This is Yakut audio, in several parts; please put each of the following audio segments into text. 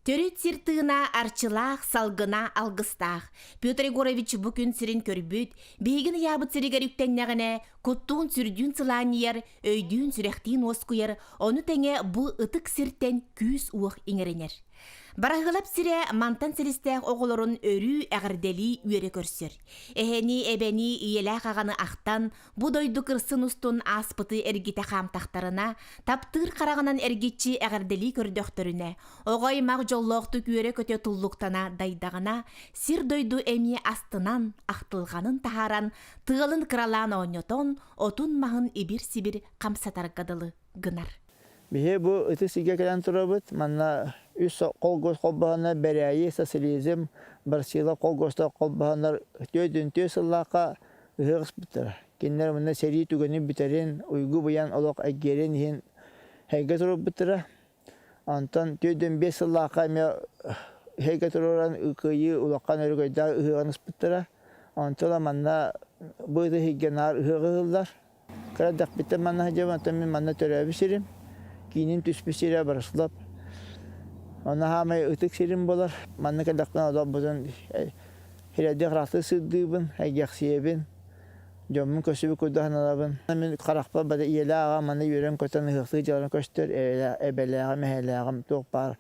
Төрүт сир тыына арчылаах, салгына алгыстаах. Петр Егорович бу күн сирин көрбүт, биһигин ыйаабыт сиригэр үктэннэҕинэ, куттуун сүрдүүн сылаанньыйар, өйдүүн сүрэхтиин уоскуйар, ону тэҥэ бу ытык сиртэн күүс-уох иҥэринэр. Бараһыалап сирэ мантан силистээх оҕолорун өрүү эҕэрдэлии үөрэ көрсөр. Эһэнии-эбэнии ийэлээх аҕаны ахтан, бу дойду кырсын устун ааспыты эргитэ хаамтахтарына, таптыыр хараҕынан эргиччи эҕэрдэлии көрдөхтөрүнэ, оҕо-аймах дьоллоохтук үөрэ-көтө туллуктана дайдаҕына, сир-дойду эмиэ астынан, ахтылҕанын таһааран, тыалын кыралаан оонньотон, отун-маһын ибир-сибир хамсатарга дылы гынар. Биһи бу ытыс сиргэ кэлэн турабыт. Манна үс холкуос холбоһоннор Бэрээйи, Социализм, Барсила холкуостар холбоһоннор түөртүн-түөрт сыллаахха ыһыах ыспыттара. Кинилэр манна сэрии түгэнин бүтэрин, уйгу быйаҥ олох эйгиэрин иһин эһэйгэ турарбыттара. Онтон түөртүн биэс сыллаахха эмиэ эһэйгэ туруоран Кыайыы улахан өрөгөйдөөх ыһыаҕын ыспыттара. Онтон манна бу ытыс иһиггэ наар ыһыаҕы ыһыллар. Кырадахпиттан манна сылдьабын, оттон мин манна төрөөбүт сирим. Киинин түспүт сирэ Брослав. Онно саамай ытык сирим буолар. Манна кэлдэхпинэ олорбутун сирэйдиэх ыраахтан сырдыыбын, эйгэхсийэбин, дьоммун көрсүбүт курдук сананабын. Мин харахпар бары ийэлээх аҕам манна үөрэн-көтөн, ыһыахтыы дьаларын көстөр, эбэлээҕим, эһэлээҕим туох баар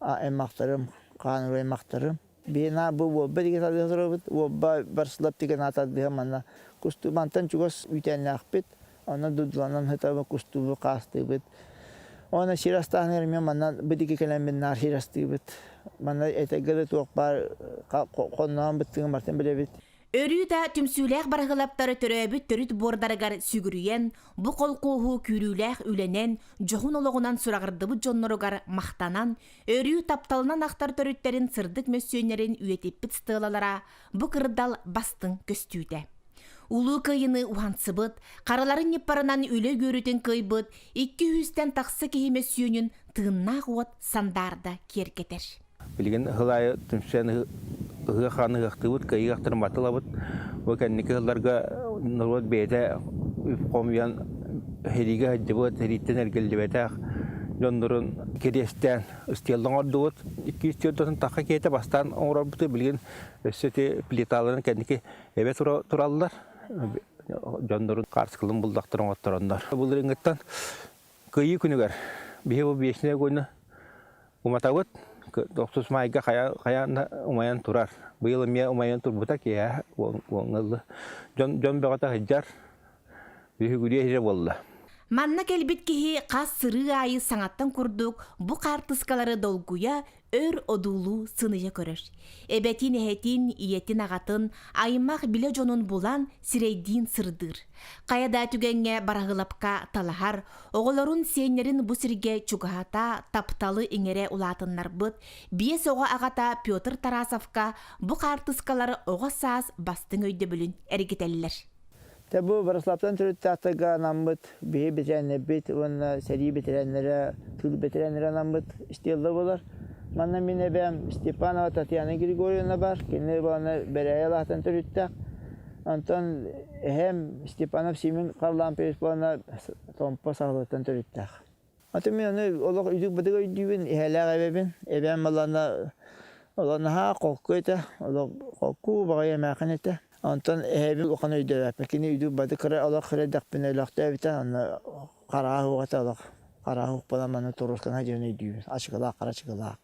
аймахтарым, хааныр аймахтарым. Биһиэнэ бу Уолба диги тардыһа турабыт. Уолба Барсылап тигэн тардыһа манна кустуубантан чугас үүтээннээхпит. Онон дудуланан хытабы кустуубу хаастыыбыт. Онно сир астаан эрмиэ манна бу диги кэлэммин наар сир астыыбыт. Манна этегге да туох баар хонноон быттыгын бартын билэбит. Өрүү да түмсүүлээх барыһылаптары төрөөбүт төрүт буордарыгар сүгүрүйэн, бу холкуоһу күүрүүлээх үлэнэн, дьоһун олоҕунан сураҕырдыбыт дьонноругар махтанан, өрүү тапталынан ахтар төрүттэрин сырдык мөссүөннэрин үйэтиппит стелалара бу кырдал бастыҥ көстүүтэ. Улуу кыайыны уһансыбыт, хараларын ньыппарынан үлэ үөрүтүн кыайбыт, икки үстэн тахса киһи мөссүөнүн тыыннаах уот сандаарда киэркэтэр. Билигин сыл аайы түмсэн ыһыах-хаан ыһыахтыыбыт, кыайыылаахтарын батылабыт. Бу кэнники сылларга норуот бэйэтэ үп-хомуйан сэриигэ сылдьыбыт, сэрииттэн эргиллибэтэх дьоннорун кириэстээн стелланы оҥордубут. Икки үс төрдүн тахха киһитэ бастаан оҥорорбуту билигин өссө ити плиталарын кэнники эбэ тураллар. Дьоннорун хаарыскаларын булдахтар оҥоттороннор. Былырыыҥҥыттан Кыйыы күнүгэр биһи бу Вечное Гойно уматабыт. Охсус майга хайа умайан турар. Быйыл эмиэ умайан турбута киэһэ буолгалы. Дьон дьон бөҕөтө сыдьар. Үһүгүрүө иһэ буолла. Манна кэлбит киһи хас сырыы аайы саҥаттан курдук бу хаартыскалары долгуйа, Өр одуулуу сыныйа көрөр. Эбэтин эһэтин, ийэтин аҕатын, аймах билэ дьонун булан, сирэйдиин сырдыыр. Кая да түгэҥҥэ бараһылапка талаһар, оҕолорун сиэннэрин бу сиргэ чугаһата, тапталы иҥэрэ улаатыннарбыт, биэс оҕо аҕата Петр Тарасовка бу хаартыскалар оҕо саас бастыҥ өйдөбүлүн эргитэллэр. Тэ бу Врославтан төрүттаахтарга анаммыт биһи бэтэрэннэрбит уонна сэрии бэтэрэннэрэ, тыл бэтэрэннэрэ анаммыт стелла болар. Манна мин эбэм Степанова Татьяна Григорьевна бар, кини уонна Бэрэйэ Алаатан төрүттэх. Онтон эһэм Степанов Симин Халлаан Петровна Томпо Сахалыттан төрүттэх. Аты мин аны олох идик-бытык өйдүүбүн, иһэлээх эбэбин. Эбээм балана олох наһаа холку этэ, олох холку, убаҕай эмээхин этэ. Онтон эһэбин улахан өйдөөбөппүн. Кини идик-бытык кыра олох кырэйдэхпинэ өлөхтөөбүтэ, онно хараа суох этэ олох. Хараа суох буолан маны туруускана диэн өйдүүбүн. Ачыкылаах, кырачыкылаах.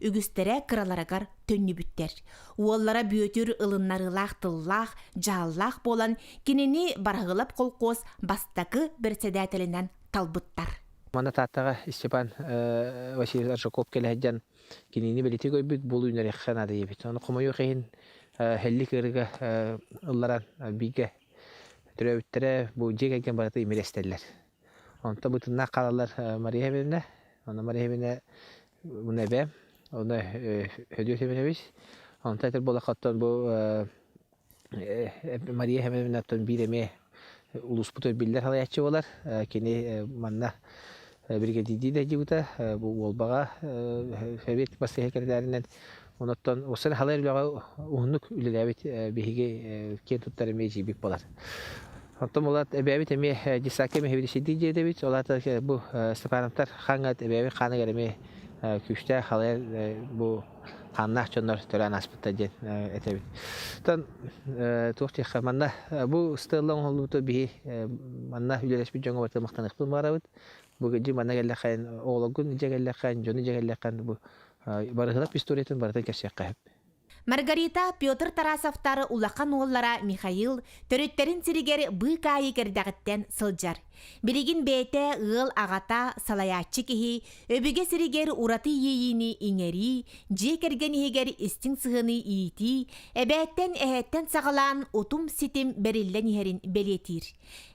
үгүстэрэ кыраларыгар төннүбүттэр. Уоллара Бүөтүр ылыннарыылаах тыллаах, дьааллаах буолан, кинини Бараһыылап колхоз бастакы бэрэссэдээтэлинэн талбыттар. Манна тааттаҕа Степан Васильевич Аржаков кэлэһэддьэн кинини бэлитик өйбүт буол үүнэриэххэ наадайбыт. Ону хомойуох иһин һэллик ырыга ылларан бииргэ төрөөбүттэрэ бу дьиэ кэргэн барыта имирэстэллэр. Онто бытыннаах хаалаллар Мария Ивановна, онно Мария Ивановна муну эбээм, онно Һөдүө Семенович, онто этэр буоллахха оттон бу Мария Ивановна оттон биир эмиэ улууспут биллэр салайааччы буолар, кини манна биригэдийдии да дьиибитэ, бу Уолбаҕа сэбиэт бас кэллэринэн Онуттан осыдан халай үлэҕэ уһуннук үлэлээбит биһиги киэн туттар эмиэ дьиибик буолар. Оттон булат эбээбит эмиэ детсадка меховедущайдык дьиэдэбит, ол аата бу Степановтар хааҥҥыт эбээбит хааныгар эмиэ күүстээх халай бу хааннаах дьоннор төлөөн ааспыттар диэн этэбит. Оттон туох диэххэ манна бу ыстыалла оҥоһуллубута биһи манна үлэлэспит дьоҥҥо махтаныахпын баҕарабыт. Бу дьиҥ манна кэллэххэ оҕолоргун дьэ кэллэххэ дьону дьэ кэллэххэ бу Барыһылап историятын барытын кэрсиэххэ сөп. Маргарита Петр Тарасовтар улахан уоллара Михаил төрүттэрин сиригэр быык аайы кэрдэҕиттэн сылдьар. Билигин бэйэтэ ыал аҕата, салайааччы киһи, өбүгэ сиригэр ураты иэйиини иҥэрии, дьиэ кэргэн иһигэр истиҥ сыһыаныы иитии, эбээттэн эһэттэн саҕалаан утум-ситим бэриллэн иһэрин бэлиэтиир.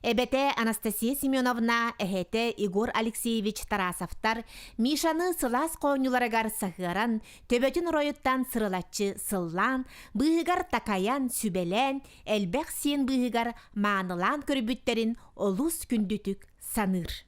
Эбэтэ Анастасия Семеновна, эһэтэ Егор Алексеевич Тарасовтар Мишаны сылаас хоонньуларыгар саһыаран, төбөтүн оройуттан сырылаччы сыллаан, быыһыгар такайан, сүбэлээн, элбэх сиэн быыһыгар маанылаан көрбүттэрин олус күндүтүк саныыр.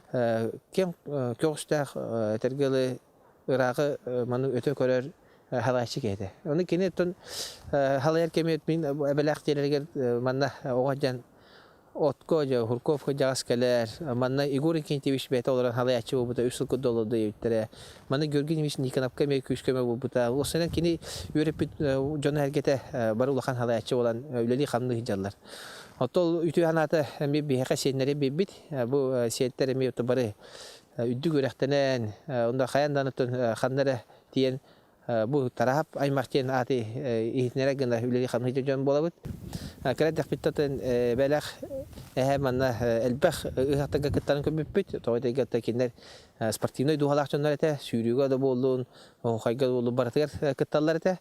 киэҥ көҕүстээх этэргэ дылы ыраахы маны өтө көрөр халайчы киһи этэ. Ону киниттэн халайар кэмиэт мин эбэлээх тиэрэригэр манна оҕо дьан отко же Хурков дьаҕас кэлэр манна Игорь Инкентьевич бэйэтэ олорон халайаччы буолбута үс сыл курду олордо диэбиттэрэ маны Георгий Николаевич Никонапка эмиэ күүскөмө булбута ол сынан кини үөрэппит дьон эргэтэ бары улахан халайаччы болан үлэлии хамныы сылдьаллар оттон үтүө санаата эмиэ биһиэхэ сиэннэри биэрбит Бу сиэттэр эми бары үрдүк үрэхтэнэн, онно хайан данытын ханна эрэ тиийэн бу Тараап аймах диэн ааты иһитиннэрэ гына үлэлии хамсыыр дьон буолабыт. Кыра дэхпиттэн бэлэх эһэ манна элбэх ыһахтарга кыттарын көрбүппүт. Тоҕо дегиттэн кытта кинилэр спортивнай дууһалаах дьоннор этэ, сүүрүүгэ да буоллун, оһуохайга да буоллун барытыгар кытталлар этэ.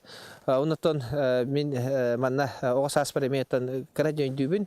Оннуттан мин манна оҕо сааспар эми оттон кыра дьон өйдүүбүн.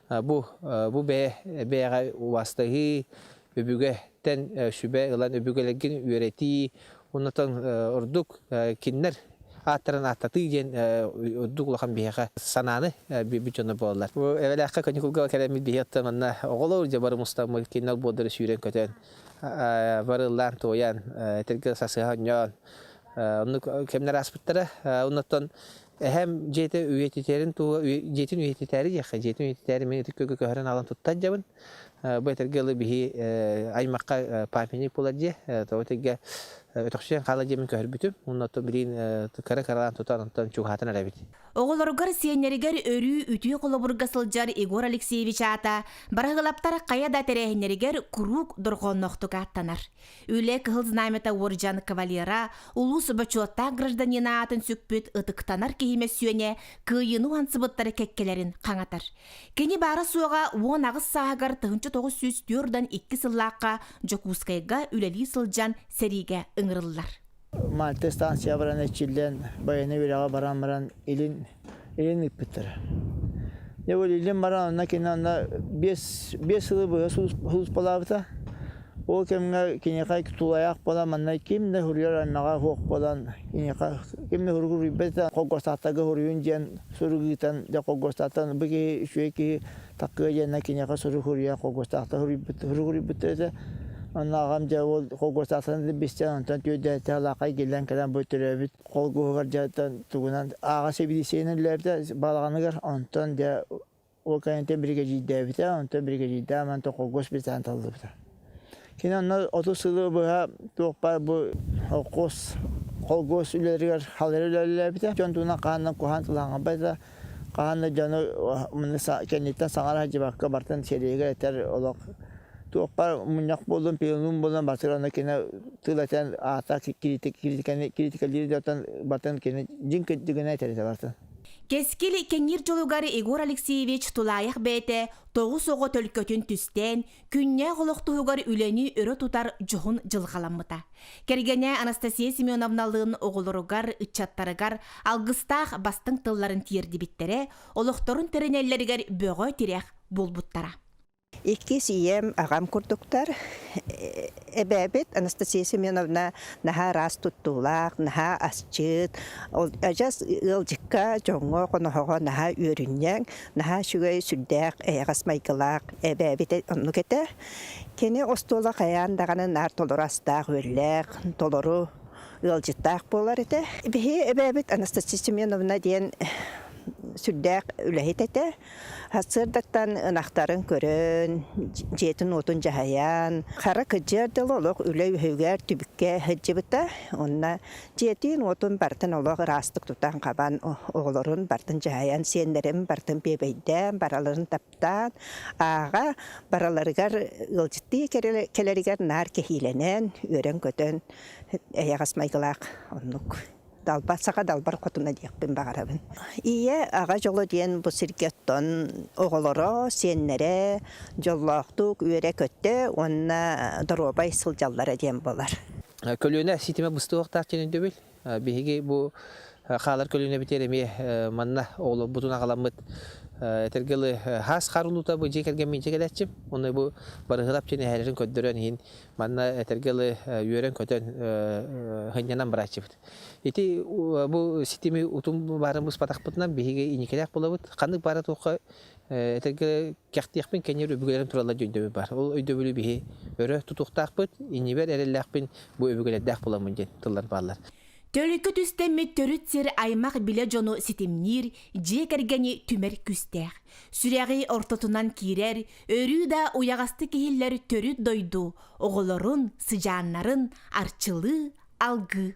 Бу, бу бэйэ, бэйэҕэ убаастаһыы, үбүгэттэн сүбэ ылан үбүгэлэргин үөрэтии, оннотон ордук кинилэр ааттарын ааттатыы диэн ордук улахан биһиэхэ санааны биэрбит дьоно буолалар. Бу эбэлээххэ каникулга кэлэммит биһиги оттон манна оҕолор дьэ бары мустаммыт кинилэр буолдары сүүрэн-көтөн бары ыллаан-туойан этэргэ сасыһа онньоон оннук кэмнэр ааспыттара. Оннуттан эһэм дьиэтэ үйэтитэрин тула дьиэтин үйэтитээри диэххэ дьиэтин үйэтитээри мин ытык күөгө көһөрөн аҕалан туттан дьабын бу этэргэ ыла биһи аймахха памятник буолар дьиэ тоҕо этэргэ өтөхсүйэн хаала дьиэмин көһөрбүтүм уонна оттон билигин кыра кыралаан тутан онтон чугаһаатан эрэбит оҕолоругар сиэннэригэр өрүү үтүө холобурга сылдьар егор алексеевич аата барыһылаптар хайа да тэрээһиннэригэр куруук дорҕоонноохтук ааттанар Үлэ Кыһыл Знамята уордьан кавалера улуус бочуоттаах гражданина аатын сүкпүт ытыктанар киһи мөссүөнэ кыайыыны уһансыбыттары кэккэлэрин хаҥатар. Кини баара-суоҕа уон аҕыс сааһыгар 1904-2 сыллаахха Дьокуускайга үлэлии сылдьан сэриигэ ыҥырыллар. Мальта станция баран эчиллэн байыаннай үөрэҕэ баран баран илин илин ыыппыттара. Дьэ бу илин баран онно кини онно биэс биэс сылы быһа сулууспалаабыта. Ол кэмҥэ киниэхэ тулайаах буолан манна ким да суруйар аймаҕа суох буолан киниэхэ ким да суругу суруйбат этэ холкуостаахтарга суруйуун диэн сурук ыытан дьэ холкуостаахтан бу киһи үчүгэй киһи Такыа диэнэ киниэхэ суругуруйа хогуотаата суруйбут суругуруйбут этэ. Онно аҕам дьэ ол хогуотаатаны бистэн онтон түөрдээтэ алаакай гиллэн кэлэн бу төрөөбүт холгуһугар дьэ тугунан ааҕа сибидисиэниллэрдэ балаҕаныгар онтон дьэ ол кэнниттэн биригэдьиирдээбитэ онтон биригэдьиирдээн мантан холгос битаан таллыбыта Кини онно отут сылы быһа туох баар бу холкуос холкуос үлэлэригэр халыр үлэлээбитэ. Дьон туһунан хаһан да куһаҕан сылаангабайда, хаһан да дьону кэнниттэн саҥара сылдьыбакка бартын сэриигэ этэр олох туох баар мунньах буоллун, пианун буоллун барытын онно кини тыл этэн аата кириитикэлиир да оттон бартын кини дьиҥ кырдьыгына этэр этэ бартын. Кэскил кэҥиир дьолугар Егор Алексеевич тулаайах бэйэтэ тоҕус оҕо төлкөтүн түстээн Күннээх олох туһугар үлэни өрө тутар дьоһун дьылҕаламмыта. Кэргэнэ Анастасия Семеновналыын оҕолоругар, ыччаттарыгар алгыстаах бастыҥ тылларын тиэрдибиттэрэ, олохторун тэринэллэригэр бөҕө тирэх буолбуттара. Иккис ийэм аҕам курдуктар. Эбээбит Анастасия Семеновна наһаа ыраас туттуулаах, наһаа асчыт, адьас ыалдьыкка, дьоҥҥо, хоноһоҕо наһаа үөрүнньэҥ, Наһаа үчүгэй, сүрдээх эйэҕэс майгылаах эбээбитэ оннук этэ. Кини остуола хайаан даҕаны наар толору астаах-үөллээх, толору ыалдьыттаах буолар этэ. Биһи эбээбит Анастасия Семеновна диэн сүрдээх үлэһит этэ. Сарсыардаттан ынахтарын көрөн, дьиэтин-уотун дьаһайан, хара кыдьыар дьыл олох үлэ үһүгэр түбүккэ сылдьыбыта. Онно Дьиэтин-уотун бартын олох ыраастык тутан-хабан, оҕолорун бартын дьаһайан, сиэннэрин бартын биэбэйдээн, барыларын таптаан, ааҕа барыларыгар ыалдьыттыы кэлэригэр наар кэһиилэнэн, үөрэн-көтөн, эйэҕэс майгылаах оннук далбар, саха далбар хотуна диэхпин баҕарабын. Ийэ, аҕа дьоло диэн бу сиргэ оттон оҕолоро, сиэннэрэ дьоллоохтук үөрэ-көтө уонна доруобай сылдьаллара диэн буолар. Көлүөнэ ситимэ быстыахтаах диэн өйдөбүл. Биһиги бу хаалар көлүөнэбитигэр эмиэ манна оҕолорбутун аҕаламмыт этэргэ дылы хаас хаар улуута бу дьиэ кэргэммин дьэ кэлээччим. Оны бу барыһылап диэн эһээлэрин көрдөрөн иһин манна этэргэ дылы үөрэн-көтөн сынньанан барааччыбыт. Ити бу ситими утум баарын быспатахпытынан биһиги инникилээх булабыт. Ханнык баара туохха кэхтиэхпин кэннир өбүгэлэрим туралла өйдөбүл бар ол өйдөбүлү биһи өрө тутуохтаахпыт иннибэр эрэллээхпин бу өбүгэлэрдээх буламмын диэн тыллар бааллар Төрүккэ түстэммит төрүт сир аймах билэ дьону ситимниир, дьиэ кэргэни түмэр күстээх. Сүрэҕи ортотунан киирэр, өрүү да уйаҕастык иһиллэр төрүт дойду оҕолорун, сыдьааннарын арчылыы, алгыы